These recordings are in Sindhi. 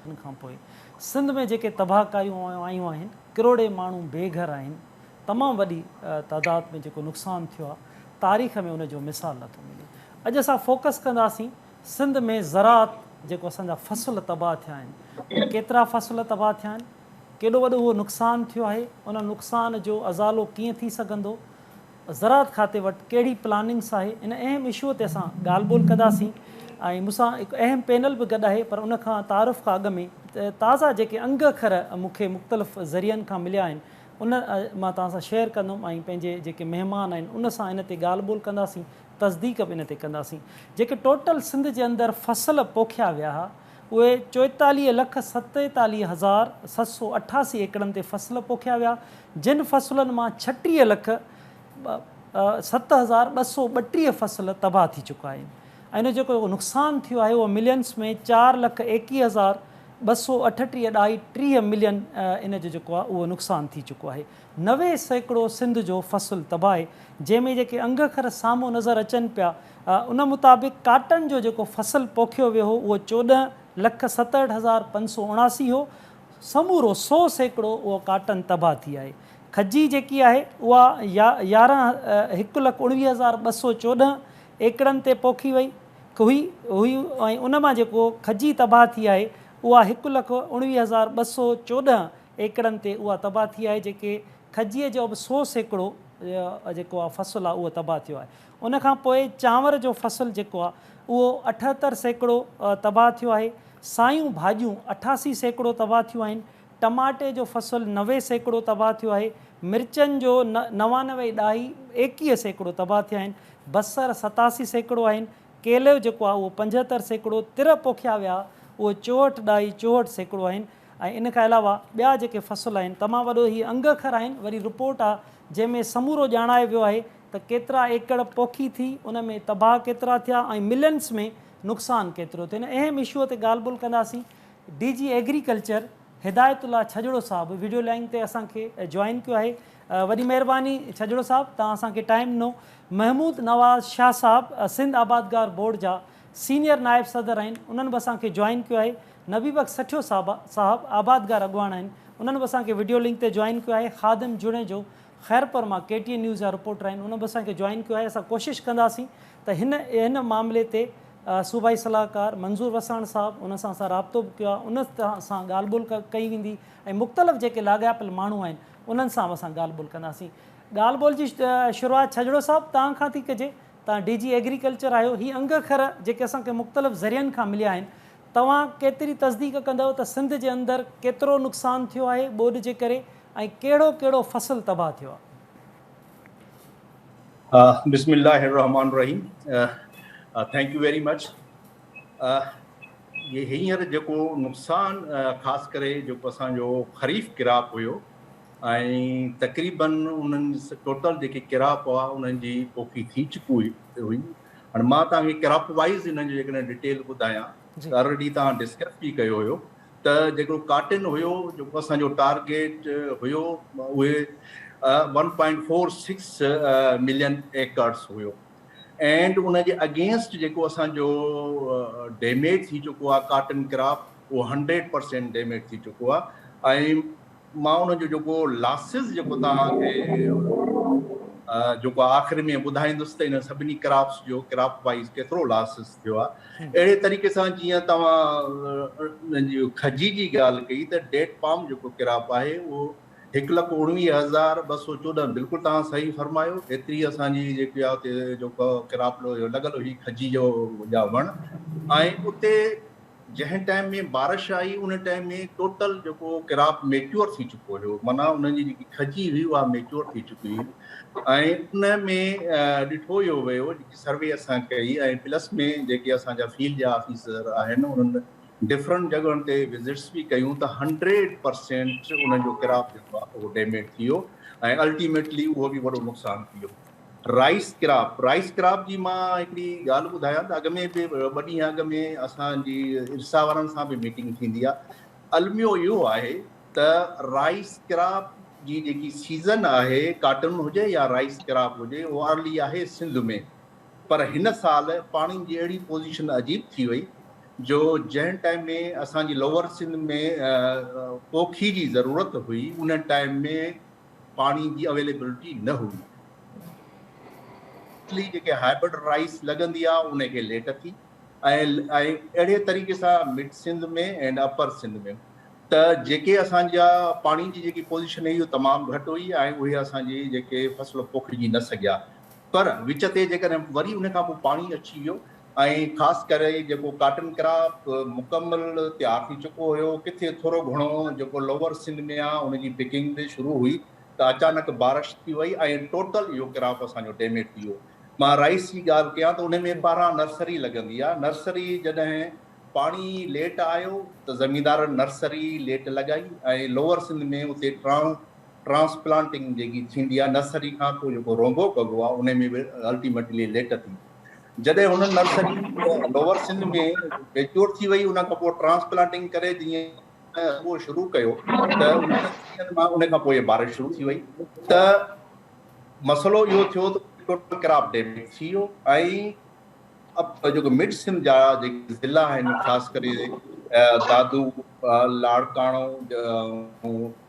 ان کان پوء سنڌ ۾ جيڪي تباهڪاريون آيون آهن، ڪروڙين ماڻهو بي گهر آهن، تمام وڏي تعداد ۾ جيڪو نقصان ٿيو آهي، تاريخ ۾ ان جو مثال نه ٿو ملي. اڄ اسان فوڪس ڪنداسين سنڌ ۾ زراعت جيڪو اسان جا فصل تباهه ٿيا آهن، ڪيترا فصل تباهه ٿيا آهن، ڪيڏو وڏو اهو نقصان ٿيو آهي، ان نقصان جو ازالو ڪيئن ٿي سگهندو، زراعت کاتي وٽ ڪهڙي پلاننگس آهي ان اهم اشوء تي اسان ڳالهه ٻولهه ڪنداسين ۽ مون سان هڪ اهم پينل به گڏ آهي پر ان کان تعارف کان اڳ ۾ تازا جيڪي انگ اکر مون کي مختلف ذريعن کان مليا آهن ان مان توهان سان شيئر ڪندم ۽ پنهنجي جيڪي مهمان آهن ان سان ان تي ڳالهه ٻولهه ڪنداسين تصديق به ان تي ڪنداسين جيڪي ٽوٽل سنڌ جي اندر فصل پوکيا ويا ها اهي چوئيتاليهه لک ستيتاليهه هزار ست سؤ اٺاسي ايڪڙن تي فصل پوکيا ويا جن فصلن مان ڇٽيهه لک ست هزار ٻه سؤ ٻٽيهه فصل تباهه ٿي چڪا آهن ۽ ان جو جيڪو نقصان ٿيو آهي اهو ملينس ۾ چار لک ايڪيهه هزار ٻه سؤ اٺٽيهه ڏهائي ٽيهه ملين ان جو جيڪو آهي اهو نقصان ٿي چڪو آهي نوي سيڪڙو سنڌ جو فصل تباهه جنهن ۾ جيڪي انگخر سامهون نظر اچن پيا ان مطابق ڪاٽن جو جيڪو فصل پوکيو ويو هو اهو چوڏهن لک ستهٺ هزار پنج سؤ اڻاسي هو سمورو سو سيڪڙو اهو ڪاٽن تباهه ٿي آهي. کجي جيڪي آهي اها يارهن هڪ لک اڻويهه هزار ٻه سؤ چوڏهن ايڪڙن تي پوکي وئي هئي هئي ۽ ان مان جيڪو کجي تباهه ٿي آهي اها هڪ لک اڻويهه هزار ٻه سؤ چوڏهن ايڪڙن تي اها تباهه ٿي آهي جيڪي کجي جو به سو سيڪڙو جيڪو آهي فصل آهي اهو تباهه ٿيو آهي. ان کان پوء چانور جو فصل جيڪو آهي اهو اٺهتر سيڪڙو تباهه ٿيو آهي، سايون ڀاڄيون اٺاسي سيڪڙو تباهه ٿيون آهن، ٽماٽي جو فصل نوي سيڪڙو تباهه ٿيو آهي، مرچن جو نوانوي ڏهائي ايڪيهه سيڪڙو تباهه ٿيا آهن، بصر ستاسي سيڪڙو آهن، ڪيلو جيڪو آهي اهو پنجهتر سيڪڙو، تر پوکيا ويا اهي چوهٺ ڏهائي چوهٺ سيڪڙو آهن ۽ ان کان علاوه ٻيا جيڪي فصل آهن تمام وڏو هي انگ اکر آهن وري رپورٽ آهي جنهن ۾ سمورو ڄاڻايو ويو آهي ته ڪيترا ايڪڙ پوکي ٿي، ان ۾ تباهه ڪيترا ٿيا ۽ ملنس ۾ نقصان ڪيترو ٿيو. هن اهم اشوء تي ڳالهه ٻولهه ڪنداسين. D G agriculture Hidayatullah Chhajro صاحب وڊيو لائين تي اسان کي جوائن ڪيو آهي. وڏي مهرباني ڇڄڙو صاحب توهان اسان کي ٽائيم ڏنو. محمود نواز شاهه صاحب سنڌ آبادگار بورڊ جا سينئر نائب صدر آهن انهن به اسان کي جوائن ڪيو آهي. نبي بخش سٺيو صاحب آبادگار اڳواڻ آهن انهن به اسان کي وڊيو لنڪ تي جوائن ڪيو آهي. خادم جوڻيجو خيرپور مان ڪي ٽي اين نيوز جا رپورٽر آهن انهن به اسان کي جوائن ڪيو آهي اسان ڪوشش ڪنداسين ته هن هن معاملي تي صوبائي صلاحڪار منظور وساڻ صاحب انهن سان اسان رابطو به ڪيو آهي انهن سان ڳالهه ٻولهه ڪئي ويندي ۽ مختلف جيڪي لاڳاپيل ماڻهو آهن انهن سان به اسان ڳالهه ٻولهه ڪنداسين ڳالهه ٻولهه جي شروعات ڇڄڙو صاحب توهان کان ٿي ڪجي توهان ڊي جي ايگريڪلچر آهيو هي انگ اکر جيڪي اسان کي مختلف ذريعن کان مليا آهن توهان ڪيتري تصديق ڪندؤ ته سنڌ جي اندر ڪيترو نقصان ٿيو آهي ٻوڏ جي ڪري ۽ ڪهڙو ڪهڙو فصل تباهه ٿيو آهي. بسم الله الرحمٰن الرحيم ٿينڪ يو ويري مچ جي هينئر جيڪو نقصان خاص ڪري جيڪو اسان جو خريف ڪراپ هيو ۽ تقريبا انهن ٽوٽل جيڪي ڪراپ هئا انهن جي پوکي ٿي چڪي هئي هاڻي مان توهان کي ڪراپ وائز انهن جو جيڪڏهن ڊيٽيل ٻڌايان ته آلريڊي توهان ڊسڪس به ڪيو هيو ته جيڪو ڪاٽن هيو جيڪو اسان جو ٽارگيٽ هيو اهي one point four six million acres هيو اينڊ ان جي اگينسٽ جيڪو اسان جو ڊيميج ٿي چڪو آهي ڪاٽن ڪراپ اهو هنڊريڊ پرسينٽ ڊيميج ٿي چڪو آهي ۽ مان ان جو جيڪو لاسز جيڪو توهان کي جيڪو آخر ۾ ٻڌائيندس ته ان سڀني ڪراپس جو ڪراپ وائيز ڪيترو لاسز ٿيو آهي اهڙي طريقي سان جيئن توهان جي کجي جي ڳالهه ڪئي ته ڊيٽ پام جيڪو ڪراپ آهي اهو هڪ لک اڻويهه هزار ٻه سؤ چوڏهن بلڪل توهان صحيح فرمايو ايتري اسان جي جيڪي آهي جيڪو ڪراپ لڳل هئي کجي جو جا وڻ ۽ اتي جنهن ٽائيم ۾ بارش آئي ان ٽائيم ۾ ٽوٽل جيڪو ڪراپ ميچوئر ٿي چڪو هيو معنيٰ ان جي جيڪي کجي هئي اها ميچوئر ٿي چڪي هئي ۽ ان ۾ ڏٺو اهو ويو جيڪي سروي اسان ڪئي ۽ پلس ۾ جيڪي اسان جا فيلڊ جا آفيسر آهن انهن ڊفرنٽ جڳهن تي وزٽس به ڪيون ته هنڊريڊ پرسينٽ ان جو ڪراپ جيڪو آهي اهو ڊيميج ٿي ويو ۽ الٽيميٽلي اهو به وڏو نقصان ٿي ويو رائيس ڪراپ، Rice Crop، جي مان هڪڙي ڳالهه ٻڌايان ته اڳ ۾ به ٻه ڏينهن اڳ ۾ اسان جي ارسا وارن سان به ميٽنگ ٿيندي آهي. الميو اهو آهي ته رائيس ڪراپ جي جيڪي سيزن آهي ڪاٽن هجي يا رائيس ڪراپ هجي اهو ارلي آهي سنڌ ۾ پر هن سال پاڻين جي اهڙي پوزيشن عجيب ٿي وئي جو جنهن ٽائيم ۾ اسان جي لوئر سنڌ ۾ پوکي جي ضرورت هئي ان ٽائيم ۾ پاڻي جي اويليبلٽي نه هئي. ڪلي جيڪي هائبرڊ رائيس لڳندي آ ان کي ليٽ ٿي ۽ اهڙي طريقي سان mid Sindh ۾ and upper Sindh ۾ ته جيڪي اسان جا پاڻي جي جيڪي پوزيشن هئي اهو تمام گهٽ هئي ۽ اهي اسان جي جيڪي فصل پوکجي نه سگهيا. پر وچ تي جيڪڏهن وري ان کان پوء پاڻي اچي ويو ۽ خاص ڪري جيڪو ڪاٽن ڪراپ مڪمل تيار ٿي چڪو هيو، ڪٿي ٿورو گهڻو جيڪو لوور سنڌ ۾ آ ان جي پڪنگ به شروع هئي ته اچانڪ بارش ٿي وئي ۽ ٽوٽل اهو ڪراپ اسان جو ڊيميڊ ٿي ويو. مان رائيس جي ڳالهه ڪيان ته ان ۾ ٻاهران نرسري لڳندي آ، نرسري جڏهن پاڻي ليٽ آيو ته زميندارن نرسري ليٽ لڳائي ۽ لوور سنڌ ۾ اتي ٽرانس ٽرانسپلانٽنگ جيڪي ٿيندي آهي نرسري کان پوء جيڪو رونبو ڪبو آهي ان ۾ به الٽيميٽلي ليٽ ٿي جڏهن هن نرسري لوور سن ۾ ميچور ٿي وئي ان کان پوء ٽرانسپلانٽنگ ڪري جيئن اهو شروع ڪيو ته ان کان پوء بارش شروع ٿي وئي ته مسئلو اهو ٿيو ته ٽوٽل ڪراپ ڊيميج ٿي ويو ۽ جيڪو مڊ سن جا جيڪي ضلع آهن خاص ڪري دادو لاڙڪاڻو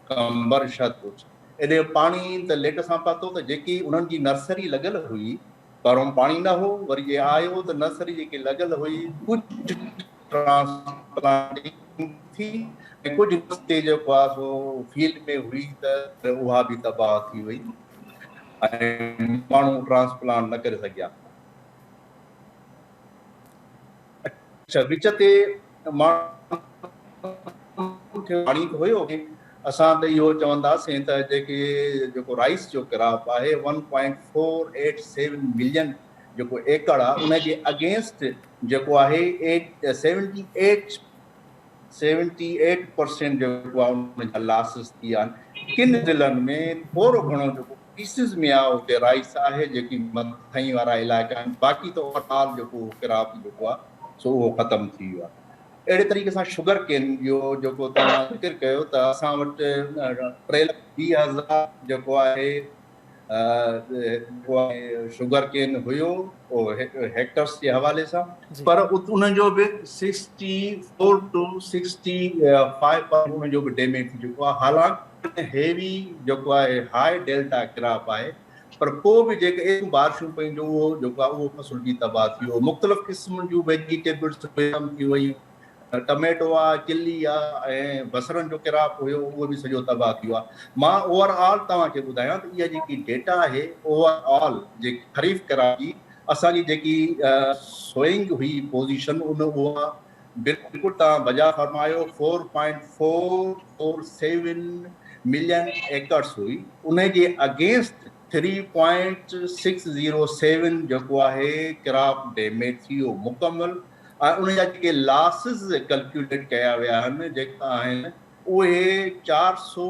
قمبر شھد بخش ايڏي پاڻي ته ليٽ سان پاتو ته جيڪي انھن جي نرسري لڳل ھئي پرھون پاڻي نه ھو وري جي آيو ته نرسري جيڪي لڳل ھئي ڪجھ ٽرانسپلانٽنگ ٿي ۽ ڪجھ نرسري جيڪو آ سو فيلڊ ۾ ھئي ته اھا به تباھ ٿي وئي ۽ ماڻھو ٽرانسپلانٽ نه ڪري سگھيا. اڇا وچ تي ماڻهن کي پاڻي ته هيو ۽ اسان ته اهو چونداسين ته جيڪي جيڪو رائيس جو ڪراپ آهي one point four eight seven million جيڪو ايڪڙ آهي ان جي اگينسٽ جيڪو آهي eight seventy eight seventy eight percent جيڪو آهي ان جا لاسز ٿي آهن ڪن ضلعن ۾ ٿورو گهڻو جيڪو پيسز ۾ آء اتي رائيس آهي جيڪي مٿئين وارا علائقا آهن باقي ته اوور آل جيڪو ڪراپ جيڪو آهي سو اهو ختم ٿي ويو آهي اهڙي طريقي سان شگر ڪين جو جيڪو توهان ذڪر ڪيو ته اسان وٽ ٽي لک ويهه هزار جيڪو آهي جيڪو آهي شگر ڪين هيو هيڪٽرس جي حوالي سان پر ان جو به sixty four two sixty five ان جو به ڊيميج ٿي چڪو آهي حالانڪ ۽ هيوي جيڪو آهي هاء ڊيلٽا ڪراپ آهي پر پوء به جيڪي ايتريون بارشون پيون جو اهو جيڪو آهي اهو فصل به تباهه ٿي ويو مختلف قسمن جون ويجيٽيبلز ختم ٿي ويون ٽميٽو آ چلي آ ۽ بصرن جو ڪراپ هيو اهو به سڄو تباهه ٿي ويو آ مان اوور آل توهان کي ٻڌايان ته اها جيڪي ڊيٽا آهي اوور آل جيڪي خريف ڪراپ جي اسان جي جيڪي سوئنگ هئي پوزيشن ان اها بلڪل توهان بجا فرمايو four point four four seven million acres هئي انهي جي against three point six zero seven جيڪو آهي ڪراپ ڊيميج ٿي ويو مڪمل ۽ ان جا جيڪي لاسز ڪلڪيوليٽ ڪيا ويا آهن جيڪا آهن اهي چار سو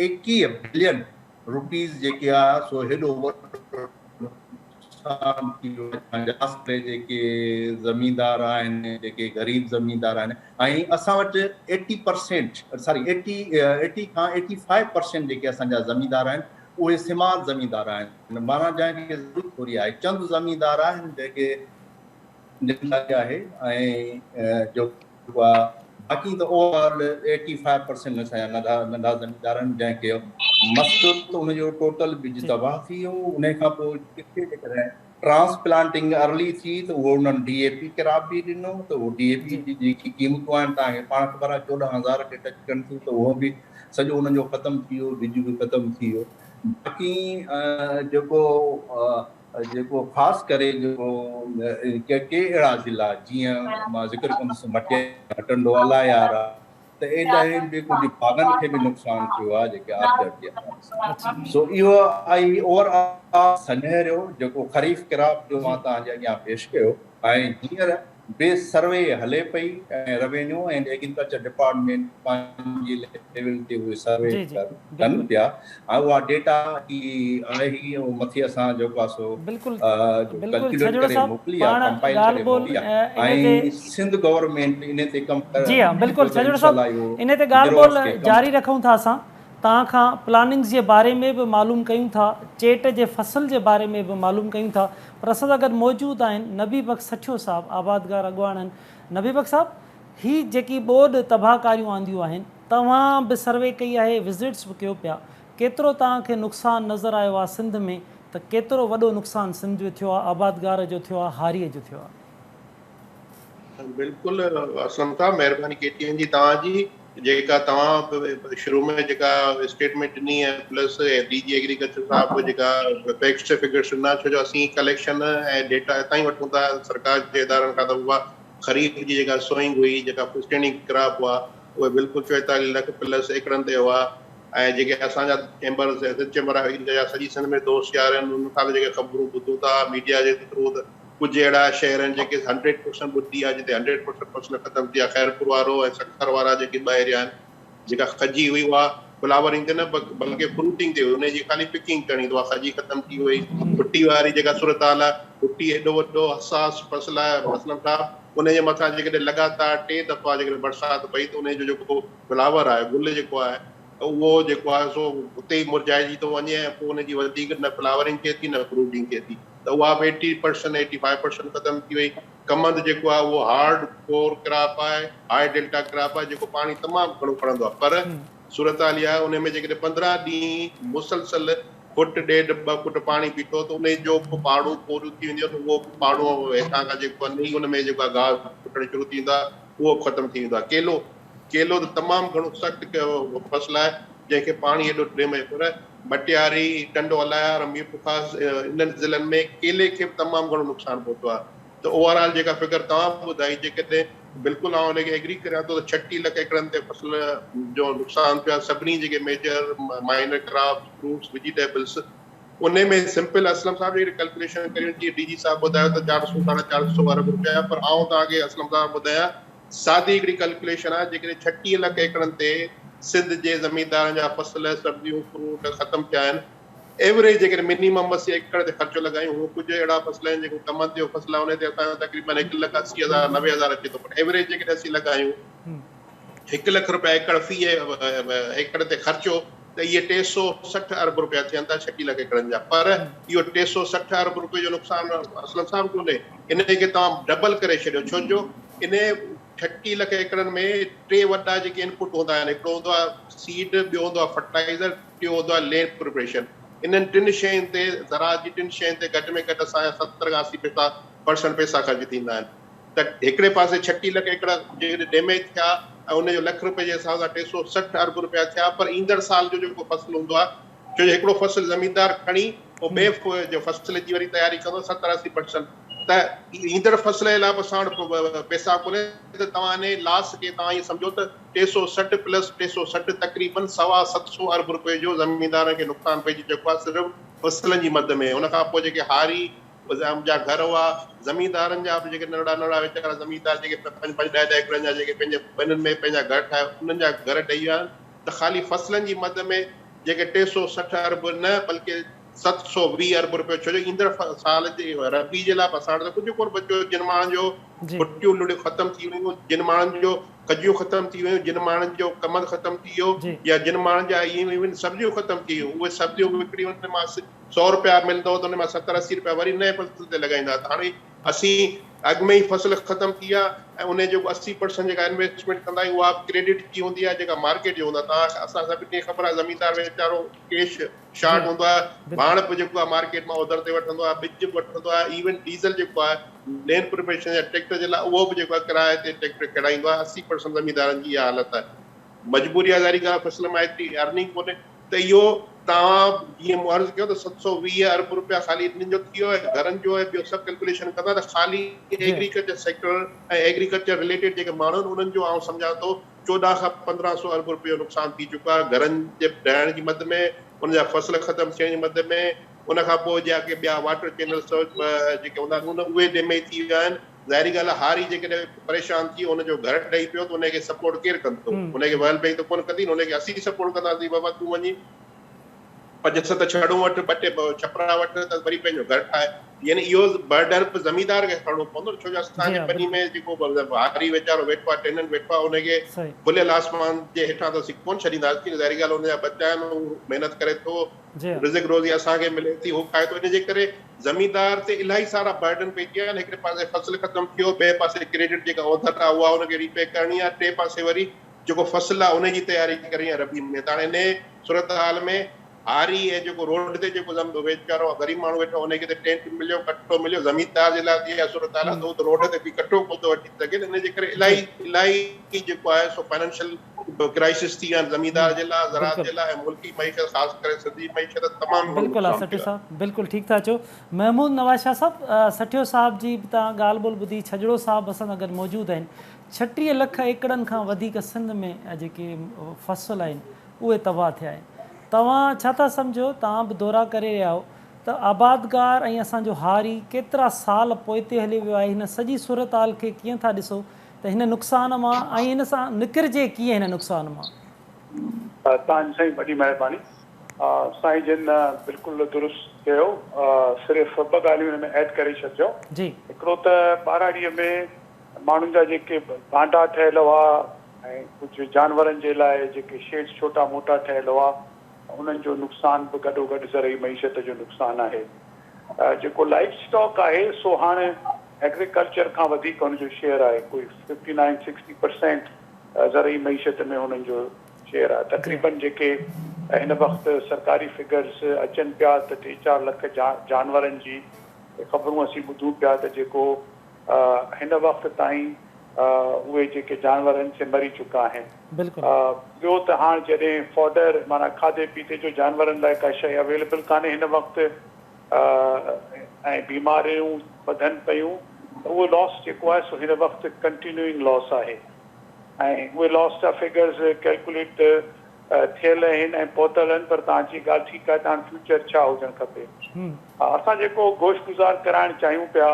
ايڪيهه بلين روپيز جيڪي آهي سو هيڏو وڏو جي جيڪي زميندار آهن جيڪي غريب زميندار آهن ۽ اسان وٽ ايٽي پرسينٽ ساري ايٽي ايٽي کان ايٽي فائيو پرسينٽ جيڪي اسان جا زميندار آهن اهي سماج زميندار آهن مانا جنهن کي ضرورت ٿوري آهي چند زميندار آهن جيڪي جن لاء آهي ۽ جو هئا، باقي ته overall eighty five percent نشا يا ننڍا ننڍا زميندار آهن جنهن کي مس ته ان جو ٽوٽل ٻج تباهه ٿي ويو، انهي کان پوء ڪٿي جيڪڏهن ٽرانس پلانٽنگ ارلي ٿي ته اهو انهن ڊي اي پي قرار به ڏنو ته اهو ڊي اي پي جي جيڪي قيمتون آهن تهان کي پاڻ خبر آهي چوڏهن هزار کي ٽچ ڪن ٿيون ته اهو به سڄو انهن جو ختم ٿي ويو ٻج به ختم ٿي ويو باقي جيڪو جيڪو خاص ڪري جيڪو ڪي ڪي اهڙا ضلعا جيئن مان ذڪر ڪندس مٽيارا ٽنڊوالا يارا ته ايڏانهن به ڪجهه باغن کي به نقصان ٿيو آهي جيڪي آبجاٽ جي حوالي سان سو اهو آهي اوور آل سنهريو جيڪو خريف ڪراپ جو مان توهان جي اڳيان پيش ڪيو ۽ هينئر به سروي هلي پئي ۽ روينيو اينڊ ايگريڪلچر ڊپارٽمينٽ پنهنجي ليول تي اهي سروي ڪن پيا ۽ اها ڊيٽا جي آهي اهو مٿي اسان جيڪو آهي سو ڪلڪيوليٽ ڪري موڪلي آهي ڪمپائل ڪري موڪلي آهي ۽ سنڌ گورنمينٽ انهي تي ڪم ڪري جي ها بلڪل سڄڻ صاحب انهي تي ڳالهه ٻولهه جاري رکون ٿا اسان توهان کان پلاننگز جي باري ۾ به معلوم ڪيون ٿا، چيٽ جي فصل جي باري ۾ به معلوم ڪيون ٿا پر اسان سان گڏ موجود آهن نبي بخش سٺيو صاحب آبادگار اڳواڻن نبي بخش صاحب هي جيڪي ٻوڏ تباهه ڪاريون آنديون آهن توهان به سروي ڪئي آهي وزٽس به ڪيو پيا ڪيترو توهان کي نقصان نظر آيو آهي سنڌ ۾ ته ڪيترو وڏو نقصان سنڌ جو ٿيو آهي آبادگار جو ٿيو آهي هاري جو ٿيو آهي. بلڪل اسلم صاحب مهرباني ڪي ٽي اين جي توهان جي جيڪا توهان شروع ۾ جيڪا اسٽيٽمينٽ ڏني ۽ پلس ڊي جي ايگريڪلچر صاحب به جيڪا فيڪس ٽو فگرس ڏنا ڇو جو اسين ڪليڪشن ۽ ڊيٽا هتان ئي وٺون ٿا سرڪار جي ادارن کان ته اها خريف جي جيڪا سوئنگ هئي جيڪا اسٽينڊنگ ڪراپ هئا اهي بلڪل چويتاليهه لک پلس ايڪڙن تي هئا ۽ جيڪي اسان جا چيمبر سياست چيمبر آف ايگريڪلچر جا سڄي سنڌ ۾ دوست يار آهن انهن کان به جيڪي خبرون ٻڌون ٿا ميڊيا جي ٿرو ته ڪجهه اهڙا شهر آهن جيڪي هنڊريڊ پرسنٽ ٻڌي آهي جتي هنڊريڊ پرسنٽ فصل ختم ٿي آهي خيرپور وارو ۽ سکر وارا جيڪي ٻه ايريا آهن جيڪا کجي هئي اها فلاورنگ تي نه بلڪه فروٽنگ تي هئي انهي جي خالي پڪنگ ڪرڻي ته اها کجي ختم ٿي وئي ڀٽي واري جيڪا صورتحال آهي ڀٽي ايڏو وڏو حساس فصل آهي اسلم صاحب انهي جي مٿان جيڪڏهن لڳاتار ٽي دفعا جيڪڏهن برسات پئي ته انهي جو جيڪو فلاور آهي گل جيڪو آهي اهو جيڪو آهي سو اتي ئي مرجهائجي ٿو وڃي ۽ پوء انهي جي وڌيڪ نه فلاورنگ ٿئي ٿي نه فروٽنگ ٿئي ٿي ته اها به eighty percent eighty five percent ختم ٿي وئي. ڪمند جيڪو آهي اهو هارڊ ڪور ڪراپ آهي، هاء ڊيلٽا ڪراپ آهي جيڪو پاڻي تمام گهڻو کڻندو آهي پر صورتحال اها آهي ان ۾ جيڪڏهن پندرهن ڏينهن مسلسل فٽ ڏيڍ ٻه فٽ پاڻي بيٺو ته انهي جو به پاڙون پوريون ٿي وينديون ته اهو به پاڙون هيٺان کان جيڪو آهي نئي ان ۾ جيڪو آهي گاهه ڦٽڻ شروع ٿي ويندو آهي اهو به ختم ٿي ويندو آهي. ڪيلو ڪيلو ته تمام گهڻو سخت ڪيو ويو فصل آهي، جنهن کي پاڻي ايڏو ٽريمي پر مٽياري، ٽنڊو الايار ۽ ميرپورخاص انهن ضلعن ۾ ڪيلي کي به تمام گهڻو نقصان پهتو آهي ته اوور آل جيڪا فگر توهان ٻڌائي جيڪڏهن بلڪل آئون ان کي ايگري ڪريان ٿو ته ڇٽيهه لک ايڪڙن تي فصل جو نقصان ٿيو آهي سڀني جيڪي major minor crops fruits vegetables انهي ۾ سمپل اسلم صاحب جيڪڏهن ڪلڪوليشن ڪريون جيئن ڊي جي صاحب ٻڌايو ته چار سؤ ساڍا چار سؤ ارب روپيا پر آئون توهان کي اسلم صاحب ٻڌايان سادي هڪڙي ڪلڪليشن آهي جيڪڏهن ڇٽيهه لک ايڪڙن تي سنڌ جي زميندارن جا فصل، سبزيون، فروٽ ختم ٿيا آهن. ايوريج جيڪڏهن منيمم اسي ايڪڙ تي خرچو لڳايون، هونء ڪجهه اهڙا فصل آهن جيڪو ڪمند جو فصل آهي انهي تي اسان جو تقريبن هڪ لک اسي هزار نوي هزار اچي ٿو پر ايوريج جيڪڏهن اسي لڳايون هڪ لک روپيا ايڪڙ في ايڪڙ تي خرچو ته اهي ٽي سؤ سٺ ارب رپيا ٿين ٿا شڪيل ڪيڪڙن جا پر اهو ٽي سؤ سٺ ارب رپئي جو نقصان اسلم صاحب ڪونهي انهي کي توهان ڊبل ڪري ڇڏيو ڇو جو انهي ڇڪي لک ايڪڙن ۾ ٽي وڏا جيڪي انپوٽ هوندا آهن هڪڙو هوندو آهي سيڊ ٻيو هوندو آهي فرٽائيزر ٽيون هوندو آهي لينڊ پريپريشن انهن ٽن شين تي زراعت جي ٽن شين تي گهٽ ۾ گهٽ اسان جا ستر کان اسي پيسا پرسنٽ پيسا خرچ ٿيندا آهن ته هڪڙي پاسي ڇٽيهه لک ايڪڙ جيڪڏهن ڊيميج ٿيا ۽ ان جو لک رپئي جي حساب سان ٽي سؤ سٺ ارب رپيا ٿيا پر ايندڙ سال جو جيڪو فصل هوندو آهي ڇو جو هڪڙو فصل زميندار کڻي پوء ٻئي جو فصل جي وري تياري ڪندو ستر اسي پرسنٽ ته ايندڙ فصل جي لاء به اسان وٽ پئسا ڪونهي ته توهان انهي لاس کي توهان ائين سمجهو ته ٽي سؤ سٺ پلس ٽي سؤ سٺ تقريبن سوا ست سؤ ارب رپئي جو زميندارن کي نقصان پئجي چڪو آهي صرف فصلن جي مد ۾ ان کان پوء جيڪي هاري پنهنجا جا گهر هئا زميندارن جا به جيڪي ننڍڙا ننڍڙا ويچارا زميندار جيڪي پنج پنج ڏهه ڏهه ايڪڙن جا جيڪي پنهنجي ٻنين ۾ پنهنجا گهر ٺاهي انهن جا گهر ڊهي ويا ته خالي فصلن جي مد ۾ جيڪي ٽي سؤ سٺ ارب نه بلڪه ست سؤ ويهه ارب روپيو ڇو جو ايندڙ سال جي ربيع جي لاء به اسان وٽ ته ڪجهه ڪونه بچيو جن ماڻهن جو ڀٽيون لڙيون ختم ٿي ويون جن ماڻهن جو کجيون ختم ٿي ويون جن ماڻهن جو ڪمند ختم ٿي ويو يا جن ماڻهن جا ايون ايون سبزيون ختم ٿي ويون اهي سبزيون وڪڻي ان مان سؤ رپيا ملندو هو ته ان مان ستر اسي رپيا وري نئين فصل تي لڳائيندا هئا ته هاڻي اسين اڳ ۾ ئي فصل ختم ٿي ويا ۽ انهي جيڪو اسي پرسنٽ جيڪا انويسٽمينٽ ڪندا آهيون اها به ڪريڊٽ ٿي ويندي آهي جيڪا مارڪيٽ جي هوندا توهان کي اسان سڀني کي خبر آهي زميندار ويچارو ڪيش شارٽ هوندو آهي ڀاڻ به جيڪو آهي مارڪيٽ مان اوڌر تي وٺندو آهي ٻج به وٺندو آهي ايون ڊيزل جيڪو آهي لينڊ پروفيشن يا ٽريڪٽر جي لاء اهو به جيڪو آهي ڪرايي تي ٽريڪٽر ڪيڙائيندو آهي اسي پرسنٽ زميندارن جي اها حالت آهي مجبوري آهي ظاهري ڳالهه فصل مان ايتري ارننگ ڪونهي ته اهو توهان جيئن مون عرض ڪيو ته ست سؤ ويهه ارب رپيا خالي انهن جو ٿي ويو ۽ گهرن جو ۽ ٻيو سڀ ڪلڪوليشن ڪندا ته خالي ايگريڪلچر سيڪٽر ۽ ايگريڪلچر رليٽيڊ جيڪي ماڻهو آهن انهن جو آئون سمجهان ٿو چوڏهن کان پندرهن سؤ ارب رپيو نقصان ٿي چڪو آهي گهرن جي ڊهڻ جي مد ۾ انهن جا فصل ختم ٿيڻ جي مد ۾ ان کان پوء جيڪي ٻيا واٽر چينلز جيڪي هوندا آهن اهي ڊيميج ٿي ويا آهن ظاهري ڳالهه آهي هاري جيڪڏهن پريشان ٿي ان جو گهر ڊهي پيو ته ان کي سپورٽ ڪير ڪندو؟ ان کي ويل بينگ ته ڪونه ڪندي نه ان کي اسين سپورٽ ڪنداسين بابا تون وڃي پنج ست ڇڙون وٺ ٻه ٽي ڇپرا وٺ ته وري پنهنجو گهر ٺاهه يعني اهو برڊر به زميندار کي کڻڻو پوندو نه ڇو جو اسان جي ٻني ۾ جيڪو هاري ويچارو ويٺو آهي ٽيننٽ ويٺو آهي ان کي کليل آسمان جي هيٺان ته اسين ڪونه ڇڏينداسين ظاهري ڳالهه ان جا ٻچا آهن هو محنت ڪري ٿو رزق روزي اسان کي ملي ٿي هو کائي ٿو ان جي ڪري زميندار تي الاهي سارا برڊن پئجي ويا آهن هڪڙي پاسي فصل ختم ٿي ويو ٻئي پاسي ڪريڊٽ جيڪا اوڌر آهي اها ان کي ري پي ڪرڻي آهي ٽي پاسي وري جيڪو فصل آهي ان جي تياري ڪرڻي آهي ربي ۾ ته هاڻي انهي صورتحال ۾ هاري ۽ جيڪو روڊ تي جيڪو ويچارو غريب ماڻهو ويٺو آهي ان کي ته ٽينٽ مليو ڪٽو مليو زميندار جي لاء ته اها صورتحال آهي ته هو ته روڊ تي بيهي ڪٽو ڪونه ٿو وٺي سگهي ته ان جي ڪري الاهي الاهي جيڪو آهي سو فائنينشل به ڪرائسس ٿي ويا زميندار جي لا زراعت جي لا ۽ ملڪي معيشت خاص ڪري سنڌي معيشت تمام گهڻو بلڪل آ نقصان سٺيو ٿيو آهي. صاحب بلڪل ٺيڪ ٿا چئو محمود نواز شاھ صاحب سٺيو صاحب جي به تان ڳالھ ٻولھ ٻڌي ڇڄڙو صاحب به اسان سان گڏ موجود آهن ڇٽيھ لک ايڪڙن کان وڌيڪ سنڌ ۾ جيڪي فصل آهن اهي تباھ ٿيا آهن توهان ڇا ٿا سمجهو توهان به دورا ڪري رهيا آهو ته آبادگار ۽ اسان جو هاري ڪيترا سال پوئتي هليو ويو آهي هن سڄي صورتحال کي ڪيئن ٿا ڏسو ته هن نقصان مان ۽ ان سان نڪرجي ڪيئن هن نقصان مان. تان سائين وڏي مهرباني. سائين جن بلڪل درست چيو صرف ٻه ڳالهيون هن ۾ ايڊ ڪري ڇڏجو هڪڙو ته ٻهراڙيء ۾ ماڻهن جا جيڪي ڀانڊا ٺهيل هئا ۽ ڪجهه جانورن جي لاء جيڪي شيڊ ڇوٽا موٽا ٺهيل هئا انهن جو نقصان به گڏوگڏ زرعي معيشت جو نقصان آهي جيڪو لائيف اسٽاڪ آهي سو هاڻ ايگريڪلچر کان وڌيڪ هن جو شيئر آهي ڪوئي ففٽي نائين سڪسٽي پرسينٽ زرعي معيشت ۾ هنن جو شيئر آهي تقريبن جيڪي هن وقت سرڪاري فگرز اچن پيا ته ٽي چار لک جانورن جي خبرون اسين ٻڌون پيا ته جيڪو هن وقت تائين اهي جيڪي جانور آهن سي مري چڪا آهن ٻيو ته هاڻ جڏهن فوڊر معنيٰ کاڌي پيتي جو جانورن لاء ڪا شيء اويليبل ڪانهي هن وقت ۽ بيماريون وڌن پيون ته اهو لاس جيڪو آهي سو هن وقت ڪنٽينيوئنگ لاس آهي ۽ اهي لاس جا فگرز ڪيلڪوليٽ ته ٿيل اهن ۽ پهتل اهن پر توهان جي ڳالهه ٺيڪ آهي ته هاڻ فيوچر ڇا هجڻ کپي. اسان جيڪو گوش گذار ڪرائڻ چاهيون پيا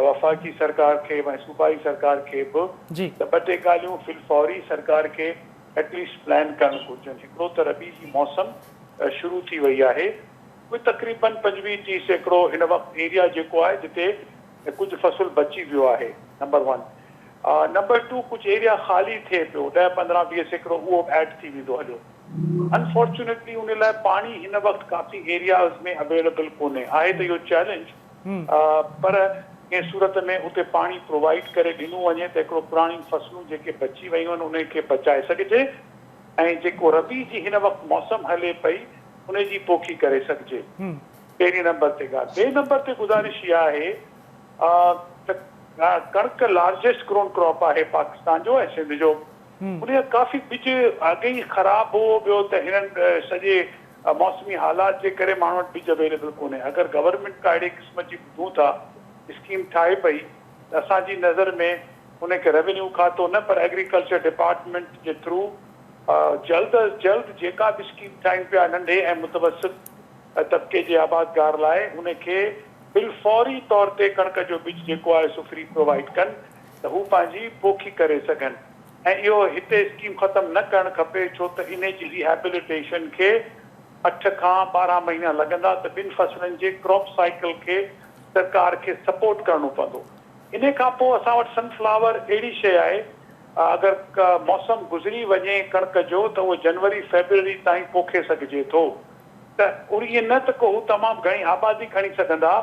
وفاقي سرڪار کي به ۽ صوبائي سرڪار کي به ته ٻه ٽي ڳالهيون في الفوري سرڪار کي ايٽليسٽ پلان ڪرڻ گهرجن هڪڙو ته ربيع جي موسم شروع ٿي وئي آهي اهي تقريبن پنجويهه ٽيهه سيڪڙو هن وقت ايريا جيڪو آهي جتي ڪجهه فصل بچي ويو آهي نمبر ون نمبر ٽو ڪجهه ايريا خالي ٿئي پيو ڏهه پندرهن ويهه سيڪڙو اهو به ايڊ ٿي ويندو هليو انفارچونيٽلي ان لاء پاڻي هن وقت ڪافي ايرياز ۾ اويليبل ڪونهي آهي ته اهو چئلينج پر ڪنهن صورت ۾ اتي پاڻي پرووائيڊ ڪري ڏنو وڃي ته هڪڙو پراڻيون فصلون جيڪي بچي ويون آهن انهن کي بچائي سگهجي ۽ جيڪو ربيع جي هن وقت موسم هلي پئي ان جي پوکي ڪري سگهجي پهرين نمبر تي ڳالهه ٻئي نمبر تي گذارش اها آهي ته ڪڻڪ لارجسٽ گرون ڪراپ آهي پاڪستان جو ۽ سنڌ جو ان جو ڪافي ٻج اڳ ئي خراب هو ٻيو ته هنن سڄي موسمي حالات جي ڪري ماڻهن وٽ ٻج اويليبل ڪونهي اگر گورنمينٽ ڪا اهڙي قسم جي ٻڌون ٿا اسڪيم ٺاهي پئي ته اسان جي نظر ۾ ان کي روينيو کاتو نه پر ايگريڪلچر ڊپارٽمينٽ جي ٿرو جلد از جلد جيڪا به اسڪيم ٺاهيون پيا ننڍي ۽ متوسط طبقي جي آبادگار لاء ان کي بالفوري طور تي ڪڻڪ جو ٻج جيڪو آهي سو فري پرووائيڊ ڪن ته هو پنهنجي پوکي ڪري سگهن ۽ اهو هتي اسڪيم ختم نه ڪرڻ کپي ڇو ته انهي جي ريهيبليٽيشن کي اٺ کان ٻارهن مهينا لڳندا ته ٻن فصلن جي ڪراپ سائيڪل کي سرڪار کي سپورٽ ڪرڻو پوندو انهي کان پوء اسان وٽ سن فلاور اهڙي شيء آهي اگر موسم گذري وڃي ڪڻڪ جو ته اهو جنوري فيبروري تائين پوکي سگهجي ٿو ته ائين نه ته ڪو هو تمام گهڻي آبادي کڻي سگهندا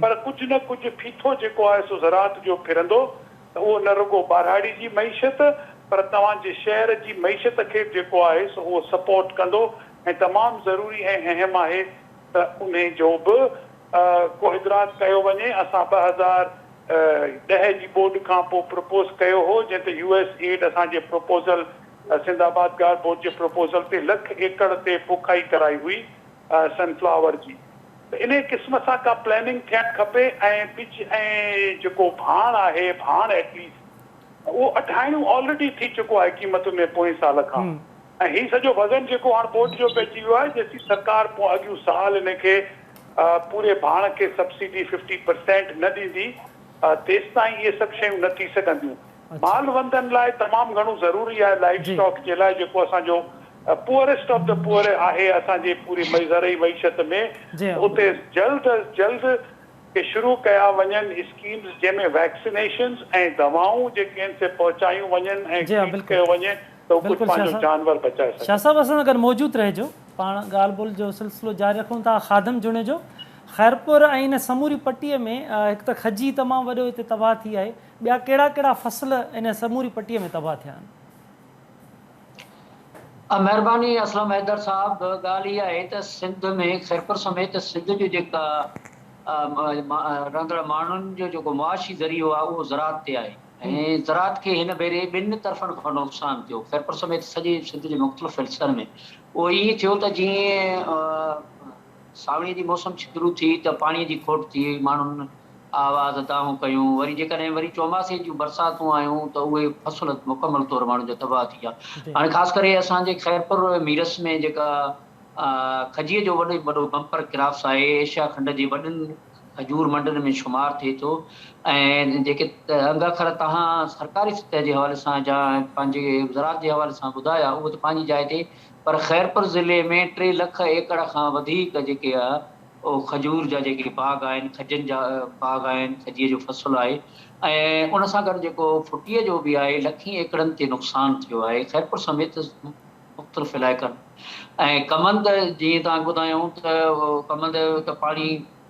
پر ڪجهه نه ڪجهه ڦيٿو جيڪو آهي سو زراعت جو ڦرندو ته اهو نه رڳو ٻاراڙي جي معيشت پر توهان جي شهر جي معيشت کي به جيڪو آهي سو اهو سپورٽ ڪندو ۽ تمام ضروري ۽ اهم آهي ته انهي جو به ڪو ادراڪ ڪيو وڃي، اسان ٻه هزار ڏهه جي ٻوڏ کان پوء پروپوز ڪيو هو جنهن تي يو ايس ايڊ اسان جي proposal Sindh Abadgar board جي پروپوزل تي لک ايڪڙ تي پوکائي ڪرائي هئي سن فلاور جي ته انهي قسم سان ڪا پلاننگ ٿيڻ کپي ۽ ٻج ۽ جيڪو ڀاڻ آهي ڀاڻ ائٽليسٽ اهو اڍائڻو آلريڊي ٿي چڪو آهي قيمت ۾ پوئين سال کان ۽ هي سڄو وزن جيڪو هاڻ ٻوٽ جو پئجي ويو آهي جيسين سرڪار پون اڳيون سال انهي کي پوري ڀاڻ کي سبسڊي ففٽي پرسينٽ نه ڏيندي تيستائين اهي سڀ شيون نه ٿي سگهنديون مال وندن لاء تمام گهڻو ضروري آهي لائيف اسٽاڪ جي لاء جيڪو اسان جو پوئريسٽ آف دي پوئر آهي اسان جي پوري زرعي معيشت ۾ اتي جلد از جلد ڪي شروع ڪيا وڃن اسڪيمز جنهن ۾ ويڪسينيشنز ۽ دوائون جيڪي آهن سي پهچايون وڃن ۽ ٽريٽ ڪيو وڃي ته هو ڪجهه پنهنجو جانور بچائي سگهن. شاهه صاحب اسان سان گڏ موجود رهجو. پاڻ ڳالهه ٻولهه جو سلسلو جاري رکون ٿا خادم جوڻيجو خيرپور ۽ ان سموري پٽي ۾ هڪ ته کجي تمام وڏو هتي تباهه ٿي آهي ٻيا ڪهڙا ڪهڙا فصل ان سموري پٽي ۾ تباهه ٿيا آهن. مهرباني اسلم حيدر صاحب ڳالهه اها آهي ته سنڌ ۾ خيرپور سميت سنڌ جو جيڪا رهندڙ ماڻهن جو جيڪو معاشي ذريعو آهي اهو زراعت تي آهي. ۽ زراعت کي هن ڀيري ٻن طرفن کان نقصان ٿيو، خيرپور سميت سڄي سنڌ جي مختلف حصن ۾ اهو ائين ٿيو ته جيئن سانوڻي جي موسم شروع ٿي ته پاڻي جي کوٽ ٿي وئي، ماڻهن آواز دانهون ڪيون، وري جيڪڏهن وري چوماسي جون برساتون آيون ته اهي فصل مڪمل طور ماڻهن جا تباهه ٿي ويا، هاڻي خاص ڪري اسان جي خيرپور ميرس ۾ جيڪا کجيء جو وڏي ۾ وڏو بمپر ڪرافس آهي، ايشيا کنڊ جي وڏن. کجور منڊن ۾ شمار ٿئي ٿو ۽ جيڪي انگ اکر توهان سرڪاري سطح جي حوالي سان جا پنهنجي زراعت جي حوالي سان ٻڌايا اهو ته پنهنجي جاء تي پر خيرپور ضلعي ۾ ٽي لک ايڪڙ کان وڌيڪ جيڪي اهو کجور جا جيڪي باغ آهن کجن جا باغ آهن کجيء جو فصل آهي ۽ ان سان گڏ جيڪو ڦٽيء جو به آهي لکين ايڪڙن تي نقصان ٿيو آهي خيرپور سميت مختلف علائقن ۽ ڪمند جيئن توهان کي ٻڌايائون ته ڪمند ته پاڻي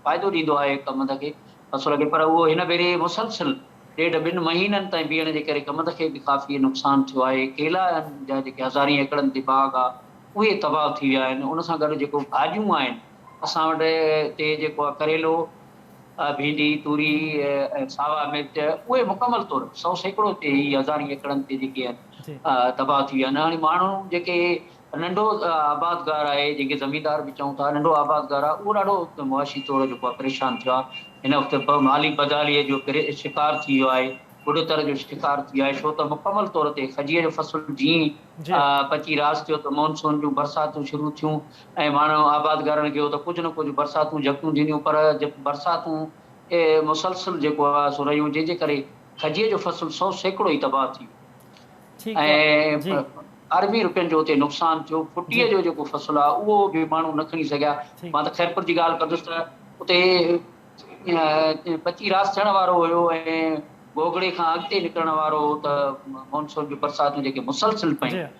فائدو ڏيندو آهي ڪمند کي فصل کي پر اهو هن ڀيري مسلسل ڏيڍ ٻن مهينن تائين بيهڻ جي ڪري ڪمند کي به ڪافي نقصان ٿيو آهي ڪيلا آهن جا جيڪي هزارين ايڪڙن تي باغ آ اهي تباهه ٿي ويا آهن ان سان گڏ جيڪو ڀاڄيون آهن اسان وٽ تي جيڪو آ ڪريلو ڀينڊي توري ۽ ساوا مرچ اهي مڪمل طور سو سيڪڙو تي هي هزارين ايڪڙن تي جيڪي آهن تباهه ٿي ويا آهن هاڻي ماڻهو جيڪي ننڍو آبادگار آهي جنهن کي زميندار به چئون ٿا ننڍو آبادگار آهي اهو ڏاڍو معاشي طور جيڪو آهي پريشان ٿيو آهي هن وقت مالي بدحالي جو شڪار ٿي ويو آهي ٻڏتر جو شڪار ٿي ويو آهي ڇو ته مڪمل طور تي کجيء جو فصل جيئن پچي راس ٿيو ته مونسون جون برساتون شروع ٿيون ۽ ماڻهو آبادگارن کي هو ته ڪجهه نه ڪجهه برساتون جهڪيون ٿينديون پر برساتون مسلسل جيڪو آهي سو رهيون جنهن جي ڪري کجيء جو فصل سؤ سيڪڙو ئي تباهه ٿي ويو ۽ اربين روپين جو اتي نقصان ٿيو. ڦٽيء جو جيڪو فصل آهي اهو به ماڻهو نه کڻي سگهيا. مان ته خيرپور جي ڳالهه ڪندس ته اتي ٻچي راس ٿيڻ وارو هيو ۽ گوگڙي کان اڳتي نڪرڻ وارو هو ته مون سون جون برساتون جيڪي مسلسل پيون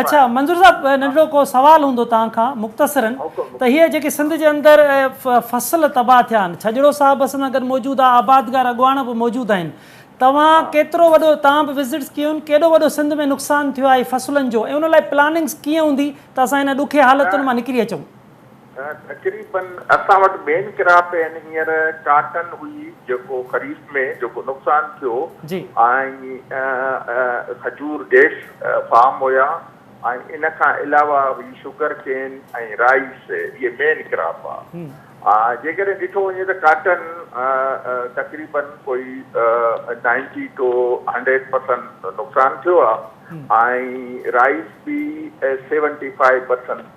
اڇا منظور صاحب ننڍڙو ڪو سوال هوندو توهان کان مختصرا ته هي جيڪي سنڌ جي اندر فصل تباهه ٿيا آهن ڇڄڙو صاحب به اسان سان گڏ موجود آهي آبادگار اڳواڻ به موجود آهن توهان ڪيترو وڏو توهان به وزٽس ڪيون آهن ڪيڏو وڏو سنڌ ۾ نقصان ٿيو آهي فصلن جو ۽ ان لاء پلاننگس ڪيئن هوندي ته اسان هن ڏکي حالتن مان نڪري اچون. تقريبن اسان وٽ مين ڪراپ اين هينئر ڪاٽن هئي جيڪو خريف ۾ جيڪو نقصان ٿيو ۽ کجور ڊيس فارم هيا ۽ ان کان علاوه هئي شگر ڪين ۽ رائيس اهي مين ڪراپ ها جيڪڏهن ڏٺو وڃي ته ڪاٽن تقريبن ڪوئي نائنٽي ٽو هنڊريڊ پرسنٽ نقصان ٿيو ها ۽ رائيس به سيونٽي فائيو پرسنٽ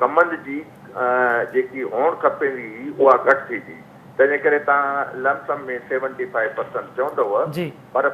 ڪمند جي جيڪي هئڻ کپيندي هئي اها گهٽ ٿي وئي تنهنجي ڪري توهان lump sum ۾ seventy five percent چوندؤ پر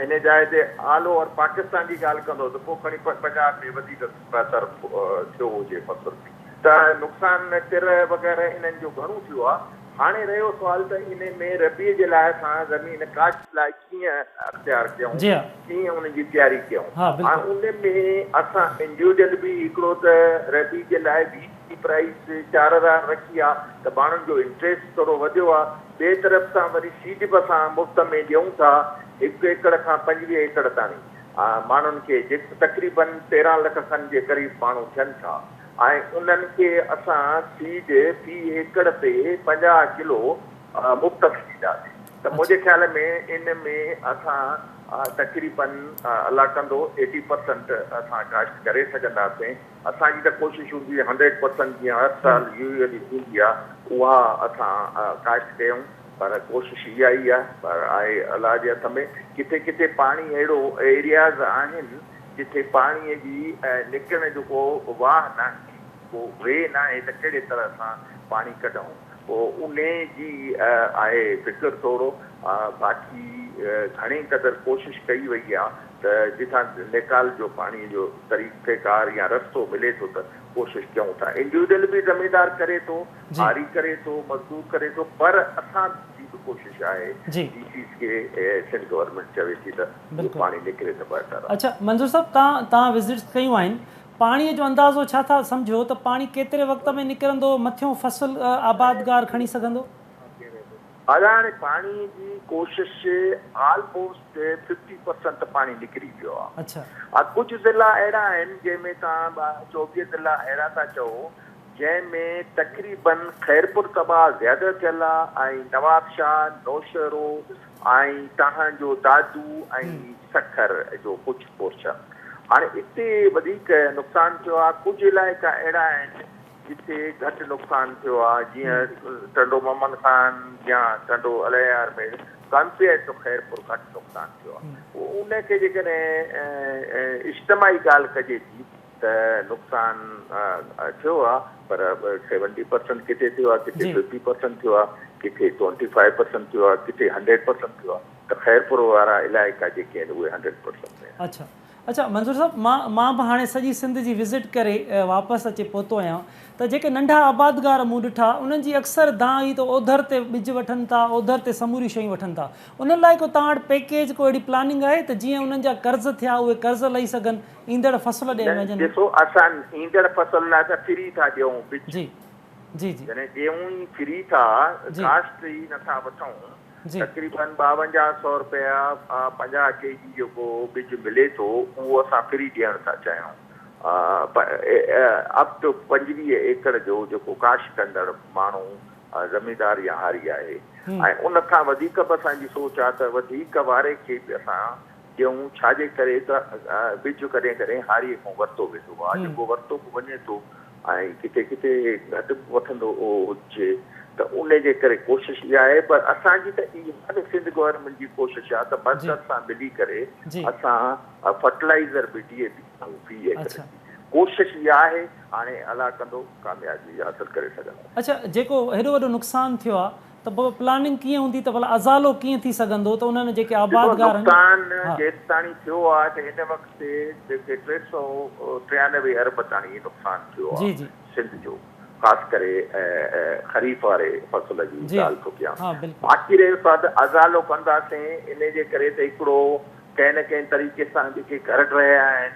ان جاء تي آل اوور پاڪستان جي ڳالهه ڪندؤ ته پوء کڻي پنجاب ۾ وڌيڪ بهتر ٿيو هجي فصل ته نقصان ٽرهه وغيره انهن جو گهڻو ٿيو آهي. هاڻي رهيو سوال ته ان ۾ ربيع جي لاء اسان زمين ڪاشت لاء ڪيئن اختيار ڪيون، جي ها. ڪيئن ان جي تياري ڪيون. ها هاڻ بلڪل. ان ۾ اسان انڊيوڊل به هڪڙو ته ربيع جي لاء ويٽ جي پرائيس چار هزار رکي آ ته ماڻهن جو انٽريسٽ ٿورو وڌيو آ، ٻئي طرف سان وري سيڊ به اسان مفت ۾ ڏيون ٿا هڪ ايڪڙ کان پنجويهه ايڪڙ تاڻي ماڻهن کي جيڪو تقريبن تيرهن لک کن جي قريب ماڻهو ٿين ٿا. ۽ انهن کي اسان سيڊ في ايڪڙ تي پنجاهه ڪلو مفت ۾ ڏينداسين ته منهنجي خيال ۾ ان ۾ اسان تقريباً الله ڪندو ايٽي پرسنٽ اسان ڪاشت ڪري سگهنداسين اسان جي ته ڪوشش هوندي هنڊريڊ پرسنٽ جيئن هر سال يويلي ٿيندي آهي اها اسان ڪاشت ڪيون پر ڪوشش اها ئي آهي پر آهي الله جي هٿ ۾ ڪٿي ڪٿي پاڻي اهڙو ايرياز آهن جتي پاڻيء جي نڪرڻ جو ڪو واهه ناهي، ڪو وي ناهي ته ڪهڙي طرح سان پاڻي ڪڍون، انهي جي آهي فڪر توڙو باقي گهڻي قدر ڪوشش ڪئي وئي آ ته جتان نيڪال جو پاڻيء جو طريقيڪار يا رستو ملي ٿو ته ڪوشش ڪيون ٿا. انڊيوڊل به زميندار ڪري ٿو، آري ڪري ٿو، مزدور ڪري ٿو پر اسان جي به ڪوشش آهي، ڊي سيز کي سنڌ گورنمينٽ چوي ٿي ته جي پاڻي نڪري ته بهتر آهي. اڇا منظور صاحب تان تان وزٽس ڪيون آهن پاڻي جو اندازو ڇا ٿا سمجهو ته پاڻي ڪيتري وقت ۾ نڪرندو مٿيون فصل آبادگار کڻي سگهندو. ادا هاڻي پاڻي جي ڪوشش آلموسٽ ففٽي پرسنٽ پاڻي نڪري ويو آ ها ڪجهه ضلعا اهڙا آهن جنهن ۾ توهان چوويهه ضلعا اهڙا ٿا چئو جنهن ۾ تقريبن خيرپور طبعا زياده ٿيل آ ۽ نوابشاهه نوشهرو ۽ تنهن جو دادو ۽ سکر جو ڪجهه پورشن هاڻي اتي وڌيڪ نقصان ٿيو آهي ڪجهه علائقا اهڙا آهن جتي گهٽ نقصان ٿيو آهي جيئن ٽنڊو محمد خان يا ٽنڊو الهيار ۾ ڪمپيئرڊ ٽو خيرپور گهٽ نقصان ٿيو آهي ان کي جيڪڏهن اجتماعي ڳالهه ڪجي ٿي ته نقصان ٿيو آ پر سيونٽي پرسنٽ ڪٿي ٿيو آ ڪٿي ففٽي پرسنٽ ٿيو آ ڪٿي ٽوئنٽي فائيو پرسنٽ ٿيو آ ڪٿي هنڊريڊ پرسنٽ ٿيو آ ته خيرپور وارا علائقا جيڪي آهن اهي هنڊريڊ پرسنٽ ۾ آهن. اڇا اڇا منظور صاحب مان مان به هاڻي سڄي سنڌ جي وزٽ ڪري واپس اچي پهتو آهيان ته جيڪي ننڍا آبادگار مون ڏٺا انهن جي اڪثر دانهن هئي ته اوڌر تي ٻج وٺن ٿا اوڌر تي سموريون شيون وٺن ٿا انهن لاء ڪو توهان وٽ پيڪيج ڪو اهڙي پلاننگ آهي ته جيئن انهن جا قرض ٿيا اهي قرض لهي سگهن ايندڙ فصل ڏئي وڃن. ڏسو اسان ايندڙ فصل لاء ته فري ٿا ڏيئون بج. جي جي جي. جڏهن ڏيئون ئي فري ٿا ڪاسٽ ئي نٿا وٺون تقريبن ٻاونجاهه سئو رپيا پنجاهه ڪي جي جيڪو بج ملي ٿو اهو اسان فري ڏيڻ ٿا چاهيون اپ ٽو پنجويهه ايڪڙ جو جيڪو ڪاشت ڪندڙ ماڻهو زميندار يا هاري آهي ۽ ان کان وڌيڪ به اسان جي سوچ آهي ته وڌيڪ واري کي به اسان ڏيون، ڇا جي ڪري ته ٻج ڪڏهن ڪڏهن هاريء کان ورتو ويندو آ، جيڪو ورتو به وڃي ٿو ۽ ڪٿي ڪٿي گهٽ به وٺندو هجي ته انهي جي ڪري ڪوشش اها آهي پر اسان جي ته اها به سنڌ گورنمينٽ جي ڪوشش آ ته مرڪز سان ملي ڪري اسان فرٽلائيزر به D A P ۽ P A ڪري ٿي ڪوشش اها آهي هاڻي الله ڪندو ڪاميابي حاصل ڪري سگهنداسين. اڇا جيڪو هيڏو وڏو نقصان ٿيو آ. ته پوء پلاننگ ڪيئن هوندي ته ڀلا ازالو ڪيئن ٿي سگهندو ته انهن جيڪي آباد گار آهن ڏٺو نقصان ها. جيستاڻي ٿيو آهي ته هن وقت تي جيڪي ٽي سؤ ٽيانوي ارب تاڻي نقصان ٿيو آهي جي جي. سنڌ جو خاص ڪري خريف واري فصل جي جي ڳالهه ٿو ڪيان ها بلڪل. باقي رهيو سواد ازالو ڪنداسين انهي جي ڪري ته هڪڙو ڪنهن نه ڪنهن طريقي سان جيڪي گهر ڊهيا آهن.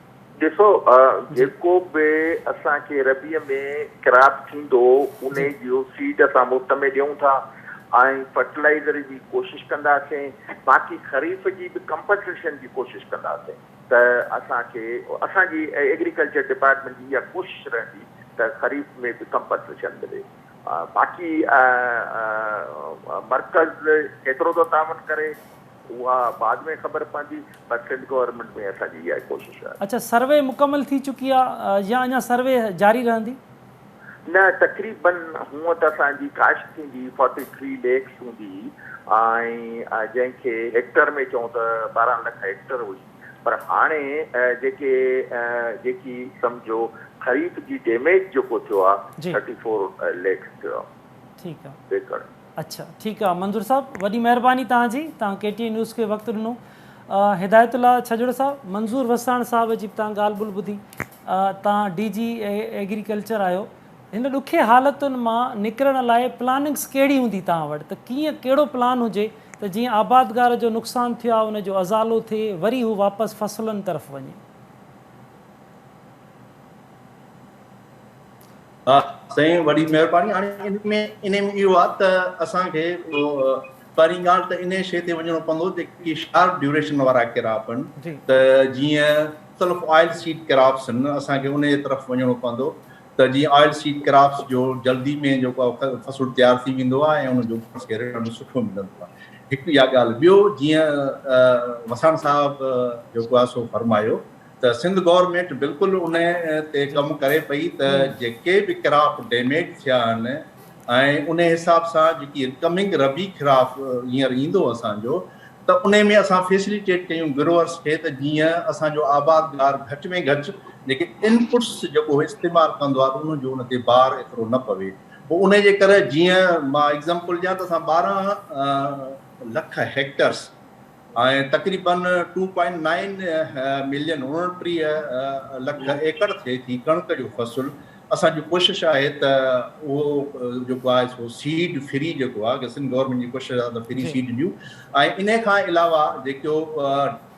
ڏسو جيڪو به اسان کي ربيع ۾ ڪراپ ٿيندو انهي جو سيڊ اسان مفت ۾ ڏيون ٿا ۽ فرٽلائيزر جي ڪوشش ڪنداسين باقي خريف جي به ڪمپنسيشن جي ڪوشش ڪنداسين ته اسان کي اسان جي ايگريڪلچر ڊپارٽمينٽ جي اها ڪوشش رهندي ته خريف ۾ به ڪمپنسيشن ملي باقي مرڪز ڪيترو ٿو تعاون ڪري. اها بعد ۾ خبر پوندي پر سنڌ گورنمينٽ ۾ اسان جي اها ئي ڪوشش آهي. اڇا سروي مڪمل ٿي چڪي آ يا اڃا سروي جاري رهندي؟ نه تقريباً هونء ته اسان جي ڪاشت ٿيندي فورٽي ٿري ليڪس هوندي ۽ جنهن کي هيڪٽر ۾ چئون ته ٻارهن لک هيڪٽر هئي پر هاڻي جيڪي جيڪي سمجهو خريف جي ڊيميج جيڪو ٿيو آ ٿرٽي فور ليڪس ٿيو آ ايڪڙ. اڇا ٺيڪ آ منظور صاحب وڏي مهرباني توهان جي توهان ڪي ٽي اي نيوز کي وقت ڏنو هدايت الله ڇڄڙ صاحب منظور وساڻ صاحب جي به توهان ڳالهه ٻولهه ٻڌي توهان ڊي جي ايگريڪلچر آهيو هن ڏکي حالتن مان نڪرڻ لاء پلاننگس ڪهڙي هوندي توهان وٽ ته ڪيئن ڪهڙو پلان هجي ته جيئن آبادگار جو نقصان ٿيو آهي ان جو ازالو ٿئي وري هو واپس فصلن طرف وڃي. ها سائين وڏي مهرباني هاڻي ان ۾ ان ۾ اهو آ ته اسان کي پهرين ڳالهه ته انهي شي تي وڃڻو پوندو جيڪي شارٽ ڊيوريشن وارا ڪراپ ان ته جيئن مختلف آئل سيڊ ڪراپس ان اسان کي انهي طرف وڃڻو پوندو ته جيئن آئل سيڊ ڪراپس جو جلدي ۾ جو فصل تيار ٿي ويندو آ ۽ ان جو اسان کي رٽرن سٺو ملندو آ هڪ اها ڳالهه ٻيو جيئن وساڻ صاحب جو ڪو آ سو فرمايو ته سنڌ گورنمينٽ بلڪل ان تي ڪم ڪري پئي ته جيڪي به ڪراپ ڊيميج ٿيا آهن ۽ ان حساب سان جيڪي ڪمنگ ربي ڪراپ هينئر ايندو اسان جو ته ان ۾ اسان فيسليٽيٽ ڪيون گروئرس کي ته جيئن اسان جو آبادگار گهٽ ۾ گهٽ جيڪي انپٽس جيڪو استعمال ڪندو آهي ان جو ان تي بار ايترو نه پوي پوء ان جي ڪري جيئن مان ايگزامپل ڏيان ته اسان ٻارهن لک هيڪٽرس ۽ تقريبن ٽو پوائنٽ نائن ملين اوڻٽيهه لک ايڪڙ ٿئي ٿي ڪڻڪ جو فصل اسان جي ڪوشش آهي ته اهو جيڪو آهي سو سيڊ فري جيڪو آهي اگر سنڌ گورنمينٽ جي ڪوشش آهي ته فري سيڊ ڏيون ۽ ان کان علاوه جيڪو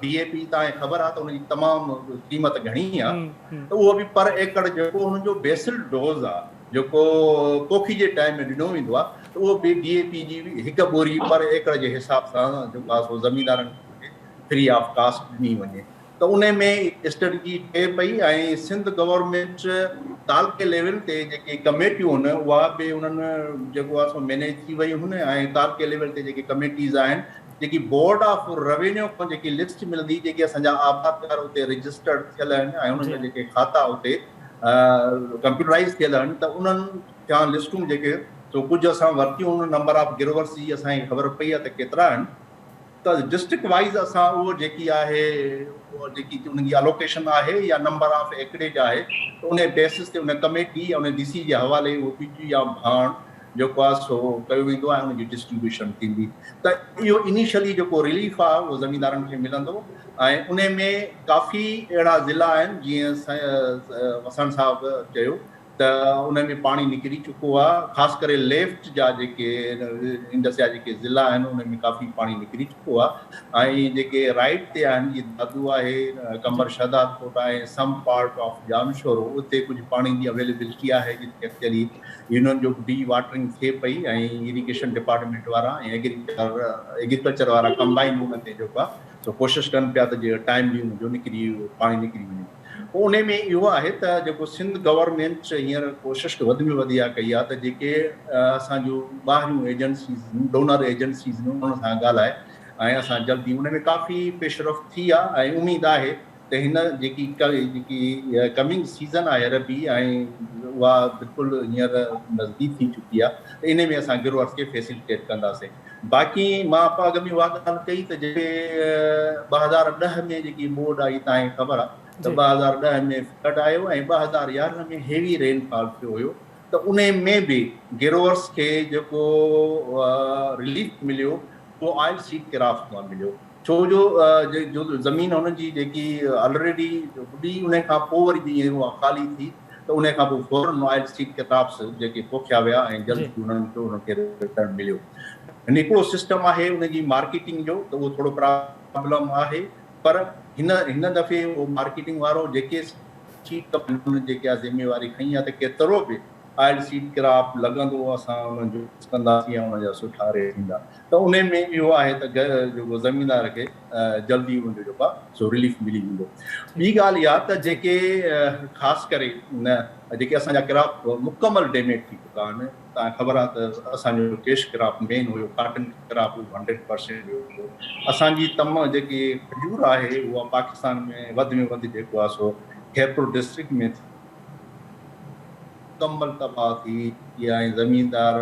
ڊي اي پي تان خبر آهي ته ان جي تمام قيمت گهڻي آهي ته اهو به پر ايڪڙ جيڪو ان جو بيسل ڊوز آهي جيڪو پوکي جي ٽائيم ۾ ڏنو ويندو آهي ته اهو به ڊي اي پي جي هڪ ٻوري پر ايڪڙ جي حساب سان جيڪو آهي سو زميندارن کي فري آف ڪاسٽ ڏني وڃي ته ان ۾ اسٽريٽجي ٺهي پئي ۽ سنڌ گورنمينٽ تعلقي ليول تي جيڪي ڪميٽيون هن اها به انهن جيڪو آهي سو مينيج ٿي ويون هن ۽ تعلقي ليول تي جيڪي ڪميٽيز آهن جيڪي بورڊ آف روينيو کان جيڪي لسٽ ملندي جيڪي اسان جا آبادگار اتي رجسٽرڊ ٿيل آهن ۽ انهن جا جيڪي کاتا اتي ڪمپيوٽرائيز ٿيل آهن ته انهن جا لسٽون جيڪي سو ڪجهه اسان ورتيون ان نمبر آف گروورس جي اسان کي خبر پئي آهي ته ڪيترا آهن ته ڊسٽرڪٽ وائيز اسان اهو جيڪي آهي جيڪي ان جي الوڪيشن آهي يا نمبر آف ايڪڙيج آهي ته ان بيسس تي ان ڪميٽي يا ان ڊي سي جي حوالي اهو پي ٽي يا ڀاڻ جيڪو آهي سو ڪيو ويندو ۽ ان جي ڊسٽريبيوشن ٿيندي ته اهو انيشلي جيڪو رليف آهي اهو زميندارن کي ملندو ۽ انهي ۾ ڪافي اهڙا ضلعا آهن جيئن وساڻ صاحب چيو ته انهي ۾ پاڻي نڪري چڪو آهي خاص ڪري ليفٽ جا جيڪي انڊس جا جيڪي ضلعا آهن انهي ۾ ڪافي پاڻي نڪري چڪو آهي ۽ جيڪي رائيٽ تي آهن جي دادو آهي قمبر شهدادڪوٽ آهي سم پارٽ آف ڄامشورو اتي ڪجهه پاڻي جي اويليبلٽي آهي جتي اڪثري يونين جو ڊي واٽرنگ ٿئي پئي ۽ ايريگيشن ڊپارٽمينٽ وارا ۽ ايگريڪلچر وارا ڪمبائن ان تي جيڪو آهي سو ڪوشش ڪن پيا ته جيئن ٽائملي ان جو نڪري پاڻي نڪري وڃي پوء ان ۾ اهو آهي ته جيڪو سنڌ گورنمينٽ هينئر ڪوشش وڌ ۾ وڌ اها ڪئي آهي ته جيڪي اسان جون ٻاهريون ايجنسيز ڊونر ايجنسيز انهن سان ڳالهائي ۽ اسان جلدي ان ۾ ڪافي پيشرفت ٿي آهي ۽ اميد آهي ته هن جيڪي جيڪي ڪمنگ سيزن آهي عربي ۽ اها بلڪل هينئر نزديڪ ٿي چڪي آهي ته انهي ۾ اسان گروئرز کي فيسلٽيٽ ڪنداسين باقي مان اپا اڳ ۾ اها ڳالهه ڪئي ته جيڪي ٻه هزار ڏهه ۾ جيڪي ٻوڏ آئي تانهين خبر آهي ته ٻه هزار ڏهه ۾ فلڊ آيو ۽ ٻه هزار يارهن ۾ هيوي رين فال ٿيو هيو ته انهي ۾ به گروئرز کي جيڪو رليف مليو اهو آئل سيڊ ڪرافٽ مان مليو ڇو جو جو زمين هن جي جيڪي آلريڊي هئي انهي کان پوء وري جيئن اها خالي ٿي ته انهي کان پوء فورن آئل اسٽريٽ ڪيتابس جيڪي پوکيا ويا ۽ جلد ئي انهن کي انهن کي رٽرن مليو هن هڪڙو سسٽم آهي ان جي مارڪيٽنگ جو ته اهو ٿورو پرابلم آهي پر هن هن دفعي اهو مارڪيٽنگ وارو جيڪي سيٽ ڪمپني جيڪي آ ذميواري کڻي آ ته ڪيترو به آئل سيٽ ڪراپ لڳندو اسان انهن جو ڪنداسين يا انهن جا سٺا ريٽ ٿيندا ته انهن ۾ اهو آهي ته جيڪو زميندار کي جلدي ان جو جيڪو آهي سو رليف ملي ويندو. ٻي ڳالهه اها ته جيڪي خاص ڪري نه جيڪي اسان جا ڪراپ مڪمل ڊيميج ٿي چڪا آهن توهان کي خبر آهي ته اسان جو ڪيش ڪراپ مين هيو ڪاٽن ڪراپ اهو هنڊريڊ پرسينٽ ويو هيو اسان جي تم جيڪي کجور آهي اها پاڪستان ۾ وڌ ۾ وڌ جيڪو آهي سو خيرپور ڊسٽرڪٽ ۾ ٿي مڪمل تباهه ٿي ۽ زميندار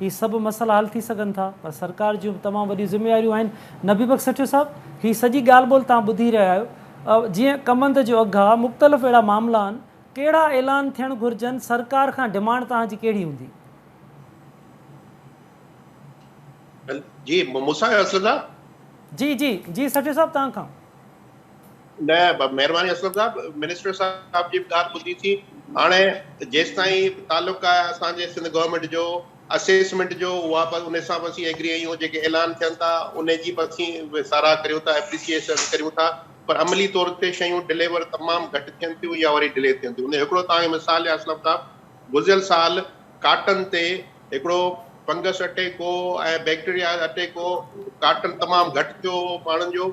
هي سڀ مسئلا حل ٿي سگهن ٿا پر سرڪار جون به تمام وڏيون ذميواريون آهن. نبي بخش سٺيو صاحب هي سڄي ڳالهه ٻولهه توهان ٻڌي رهيا آهيو جيئن ڪمند جو اگهه آهي مختلف اهڙا معاملا آهن ڪهڙا اعلان ٿيڻ گهرجن سرڪار کان ڊمانڊ توهان جي ڪهڙي هوندي. جي مون سان اصل صاحب. جي جي جي سٺيو صاحب توهان کان. نه مهرباني اسلم صاحب منسٽر صاحب جي به ڳالهه ٻڌي ٿي هاڻي جيستائين تعلق آهي اسان جي سنڌ گورنمينٽ جو اسيسمينٽ جو اها به ان سان به اسين ايگري آهيون جيڪي اعلان ٿين ٿا ان جي به اسين ساراهه ڪريون ٿا اپريسيئيشن ڪريون ٿا پر عملي طور تي شيون ڊليور تمام گهٽ ٿين ٿيون يا وري ڊلي ٿين ٿيون ان جو هڪڙو توهان کي مثال ڏيان اسلم صاحب گذريل سال ڪاٽن تي هڪڙو فنگس اٽيڪ هو ۽ بيڪٽيريا اٽيڪ هو ڪاٽن تمام گهٽ ٿيو هو ماڻهن جو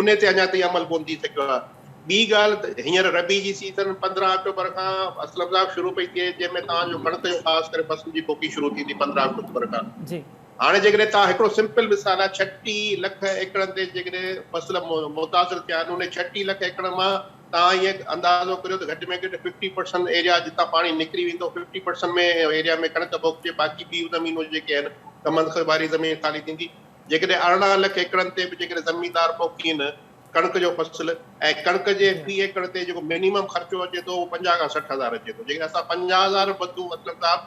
انهي تي اڃا تائين عمل ڪونه ٿي سگهيو آهي. ٻي ڳالهه ته هينئر ربيع جي سيزن پندرهن آڪٽوبر کان اسلم صاحب شروع پئي ٿئي جنهن ۾ توهان جو ڪڻڪ جو خاص ڪري فصل جي پوکي شروع ٿيندي پندرهن آڪٽوبر کان. هاڻي جيڪڏهن توهان هڪڙو سمپل مثال آهي ڇٽي لک ايڪڙن تي جيڪڏهن فصل متاثر ٿيا آهن انهي ڇٽي لک ايڪڙن مان توهان ائين اندازو ڪريو ته گهٽ ۾ گهٽ ففٽي پرسنٽ ايريا جتان پاڻي نڪري ويندو ففٽي پرسنٽ ۾ ايريا ۾ ڪڻڪ پوکجي باقي ٻيون زمينون جيڪي آهن ڪمند خواري زمين خالي ٿيندي. جيڪڏهن ارڙهن لک ايڪڙن تي به جيڪڏهن زميندار پوکين ڪڻڪ جو فصل ۽ ڪڻڪ جي في ايڪڙ تي جيڪو مينيمم خرچو اچي ٿو اهو پنجاهه کان سٺ هزار اچي ٿو جيڪڏهن اسان پنجاهه هزار به بدون اسلم صاحب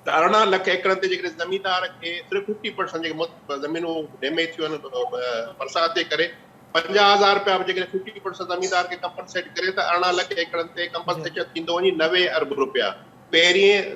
ته ارڙهن لک ايڪڙن تي جيڪڏهن زميندار کي صرف ففٽي پرسنٽ جيڪي زمينون ڊيميج ٿيون آهن برسات جي ڪري پنجاهه هزار روپيا به جيڪڏهن ففٽي پرسنٽ زميندار کي ڪمپنسيٽ ڪري ته ارڙهن لک ايڪڙن تي ڪمپنسيشن ٿيندو وڃي نوي ارب روپيا پهرين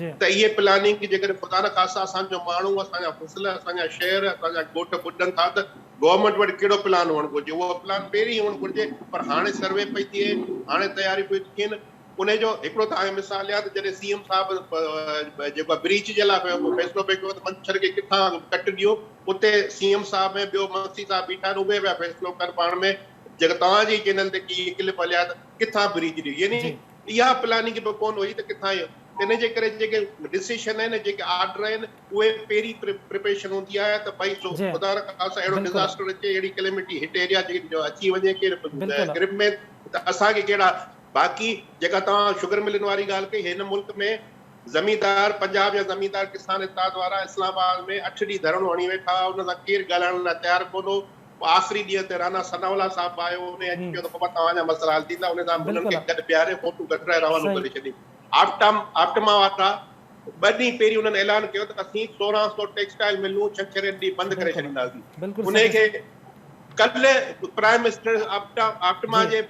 جي. ته اهي پلاننگ جيڪڏهن خدا نه خاصا اسان جو ماڻهو، اسان جا فصل، اسان جا شهر، اسان جا ڳوٺ ٻڏن ٿا ته گورنمينٽ وٽ ڪهڙو پلان هئڻ گهرجي. اهو پلان پهرين هئڻ گهرجي پر هاڻي سروي پئي ٿئي، هاڻي تياريون پيون ٿي ٿين. انهي جو هڪڙو ته آء مثال ڏيان ته جڏهن سي ايم صاحب جيڪو آهي بريچ جي لاء فيصلو پئي ڪيو ته منڇر کي ڪٿان ڪٽ ڏيون اتي سي ايم صاحب ۽ ٻيو مگسي صاحب بيٺا آهن اهي پيا فيصلو ڪن پاڻ ۾ جيڪا توهان جي چينل تي ڪي ڪلپ هليا ته ڪٿان بريچ ڏيون يعني اها پلاننگ به ڪونه هئي ته ڪٿان ايندو. ان جي ڪري جيڪي ڊسيشن آهن جيڪي آرڊر آهن اهي پهرين پريپريشن هوندي آهي ته ڀائي سو خدا نه خاصا اهڙو ڊزاسٽر اچي اهڙي ڪليمٽي هٽ ايريا جي جو اچي وڃي ڪير گرپ ۾ ته اسان کي ڪهڙا باقي جيڪا توهان شگر ملن واري ڳالهه ڪئي هن ملڪ ۾ زميندار پنجاب جا زميندار ڪسان اتحاد وارا اسلام آباد ۾ اٺ ڏينهن ڌرڻو هڻي ويٺا هئا ان سان ڪير ڳالهائڻ لاء تيار ڪونه هو. آخري ڏينهن تي رانا ثناء الله صاحب به آيو هو ۽ چيو ته بابا توهان جا مسئلا حل ٿيندا ان سان هنن کي گڏ بيهاري فوٽو ڪڍرائي روانو ڪري ڇڏيم آپٽام آپٽما وارا ٻه ڏينهن پهرين انهن اعلان ڪيو ته اسين سورهن سؤ ٽيڪسٽائيل ملون ڇنڇري ڏينهن بند ڪري ڇڏينداسين انهي کي ڪلهه پرائيم منسٽر آپٽما جي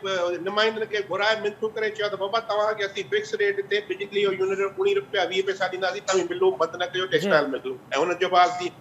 نمائندن کي گهرائي منٿون ڪري چيو ته بابا توهان کي اسين فڪس ريٽ تي بجلي جو يونٽ اڻ رپيا ويهه پئسا ڏينداسين توهين ملون بند نه ڪجو ٽيڪسٽائيل ملون ۽ انهن چيو بابا اسين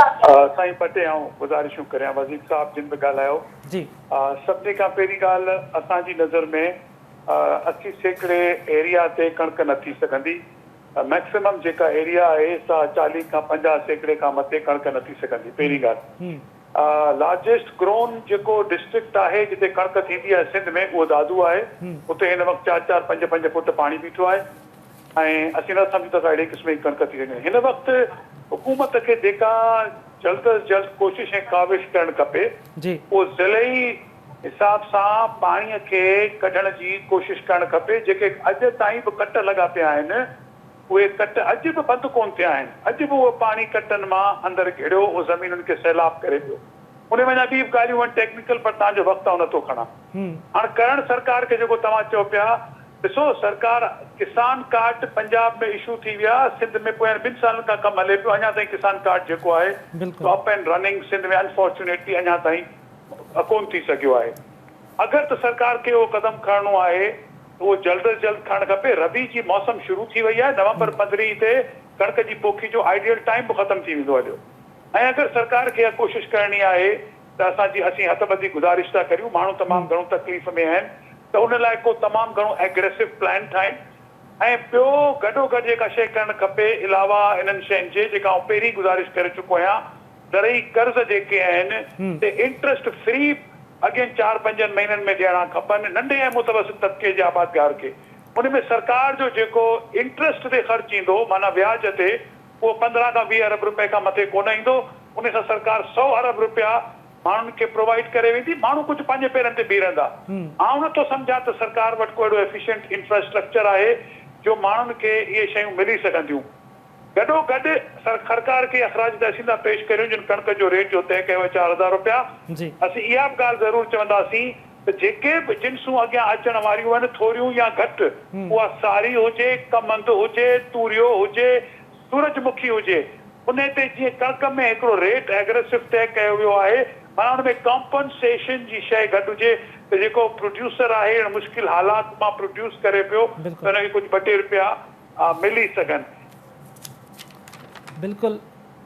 سائين ٻه ٽي آئون گذارشون ڪريان وزير صاحب جن به ڳالهايو سڀني کان پهرين ڳالهه اسان جي نظر ۾ اسي سيڪڙي ايريا تي ڪڻڪ نه ٿي سگهندي ميڪسمم جيڪا ايريا آهي سا چاليهه کان پنجاهه سيڪڙي کان مٿي ڪڻڪ نه ٿي سگهندي پهرين ڳالهه لارجسٽ گرون جيڪو ڊسٽرڪٽ آهي جتي ڪڻڪ ٿيندي آهي سنڌ ۾ اهو دادو آهي اتي هن وقت چار چار پنج پنج فوٽ پاڻي بيٺو آهي. ۽ اسين نه سمجهون ته سا اهڙي قسم جي ڪڻڪ ٿي وڃي. هن وقت حڪومت کي جيڪا جلد از جلد ڪوشش ۽ ڪاوش ڪرڻ کپي اهو ضلعي حساب سان پاڻي کي ڪڍڻ جي ڪوشش ڪرڻ کپي. جيڪي اڄ تائين به ڪٽ لڳا پيا آهن اهي ڪٽ اڄ به بند ڪونه ٿيا آهن. اڄ به اهو پاڻي ڪٽن مان اندر گهڙيو اهو زمينن کي سيلاب ڪري ويو. انهي ۾ اڃا ٻي به ڳالهيون آهن ٽيڪنيڪل پر توهان جو وقت آئون نه ٿو کڻان. هاڻ ڪرڻ سرڪار کي جيڪو توهان چئو پيا. ڏسو سرڪار ڪسان ڪارڊ پنجاب ۾ اشو ٿي ويا سنڌ ۾ پويان ٻن سالن کان ڪم هلي پيو اڃا تائين ڪسان ڪارڊ جيڪو آهي سو up and running Sindh ۾ unfortunately اڃا تائين ڪون ٿي سگهيو آهي اگر ته سرڪار کي اهو قدم کڻڻو آهي ته اهو جلد از جلد کڻڻ کپي ربيع جي موسم شروع ٿي وئي آهي نومبر پندرهين تي ڪڻڪ جي پوکي جو آئيڊيل ٽائيم به ختم ٿي ويندو هليو ۽ اگر سرڪار کي اها ڪوشش ڪرڻي آهي ته اسان جي اسين هٿ ٻڌي گذارش ٿا ڪريون ماڻهو تمام گهڻو تڪليف ۾ آهن ته ان لاء ڪو تمام گهڻو اگريسو پلان ٺاهين ۽ ٻيو گڏو گڏ جيڪا شيء ڪرڻ کپي علاوه انهن شين جي جيڪا آئون پهرين گذارش ڪري چڪو آهيان زرعي قرض جيڪي آهن سي انٽرسٽ فري اڳين چار پنجن مهينن ۾ ڏيڻا کپن ننڍي ۽ متوسط طبقي جي آبادگار کي ان ۾ سرڪار جو جيڪو انٽرسٽ تي خرچ ايندو معنيٰ وياج تي اهو پندرهن کان ويهه ارب رپئي کان مٿي ڪونه ايندو، ان سان سرڪار سؤ ارب رپيا ماڻهن کي پرووائيڊ ڪري ويندي، ماڻهو ڪجهه پنهنجي پيرن تي بيهرندا، آئون نٿو سمجهان ته سرڪار وٽ ڪو اهڙو ايفيشنٽ انفراسٽرڪچر آهي جو ماڻهن کي اهي شيون ملي سگهنديون، گڏو گڏ سرخرڪار کي اخراج تحسين ٿا پيش ڪريون جن ڪڻڪ جو ريٽ جو طئه ڪيو آهي چار هزار رپيا، اسين اها به ڳالهه ضرور چونداسين. ته جيڪي به جنسون اڳيان اچڻ واريون آهن ٿوريون يا گهٽ اها ساري هجي، ڪمند هجي، توريو هجي، سورج مکي هجي ان تي جيئن ڪڻڪ ۾ هڪڙو ريٽ ايگريسو طئي ڪيو ويو آهي معنيٰ ان ۾ ڪمپنسيشن جي شئي گڏ هجي ته جيڪو پروڊيوسر آهي اهڙن مشڪل حالات مان پروڊيوس ڪري پيو ته ان کي ڪجهه ٻه ٽي رپيا ملي سگهن. بلڪل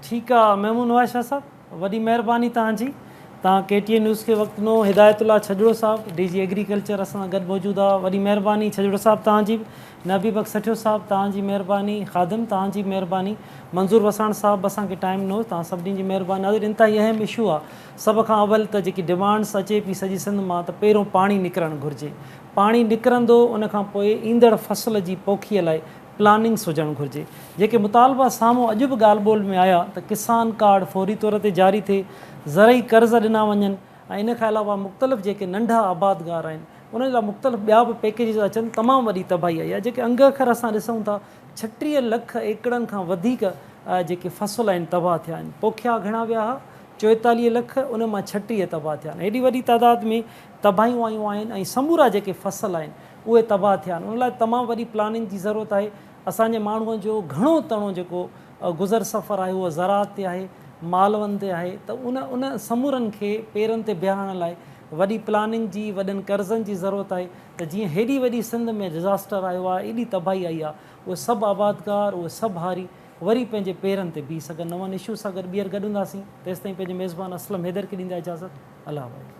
ٺيڪ آ محمود نواز شاھ صاحب. وڏي مهرباني توهان جي. توهان ڪي ٽي اين نيوز کي وقت ڏنو. هدايت الله ڇڄڙو صاحب ڊي جي ايگريڪلچر اسان سان گڏ موجود آ وڏي مهرباني ڇڄڙو صاحب توهان جي به نه حبيب بخش سٺيو صاحب توهان جي مهرباني خادم توهان جي به مهرباني منظور وساڻ صاحب به اسان کي ٽائيم ڏنو توهان سڀني جي مهرباني ناظرين انتهائي اهم اشو آ سڀ کان اول ته جيڪي ڊمانڊس اچي پي سڄي سنڌ مان ته پهريون پاڻي نڪرڻ گهرجي پاڻي نڪرندو ان کان پوء ايندڙ فصل جي پوکي لاء پلاننگز هجڻ گهرجي، جيڪي مطالبا سامهون اڄ به ڳالهه ٻولهه ۾ آيا ته ڪسان ڪارڊ فوري طور تي جاري ٿئي، زرعي قرض ڏنا وڃن ۽ ان کان علاوه مختلف جيڪي ننڍا آبادگار آهن انهن لاء مختلف ٻيا به پيڪيجز اچن، تمام وڏي تباهي آئي آهي جيڪي انگ اکر اسان ڏسون ٿا ڇٽيهه لک ايڪڙن کان وڌيڪ جيڪي فصل آهن تباهه ٿيا آهن، پوکيا گهڻا ويا ها چوئيتاليهه لک انهن مان ڇٽيهه تباهه ٿيا آهن، هيڏي وڏي تعداد ۾ تباهيون آيون آهن ۽ سمورا جيڪي فصل آهن اهي تباهه ٿيا آهن ان لاء تمام وڏي پلاننگ جي ضرورت آهي اسان جي ماڻهو جو گهڻو تڻو جيڪو گذر سفر آهي اهو زراعت تي آهي مالون تي آهي ته ان ان سمورن کي پيرن تي بيهارڻ لاء وڏي پلاننگ جي وڏن قرضن جي ضرورت آهي ته جيئن هيڏي وڏي سنڌ ۾ ڊزاسٽر آيو آهي ايڏي تباهي آئي آهي اهي سڀ آبادگار اهي سڀ هاري وري پنهنجي پيرن تي بيهي سگهن نون اشو سان گڏ ٻيهر گڏ هونداسين تيستائين پنهنجي ميزبان اسلم حيدر کي ڏيندا اجازت الله حافظ.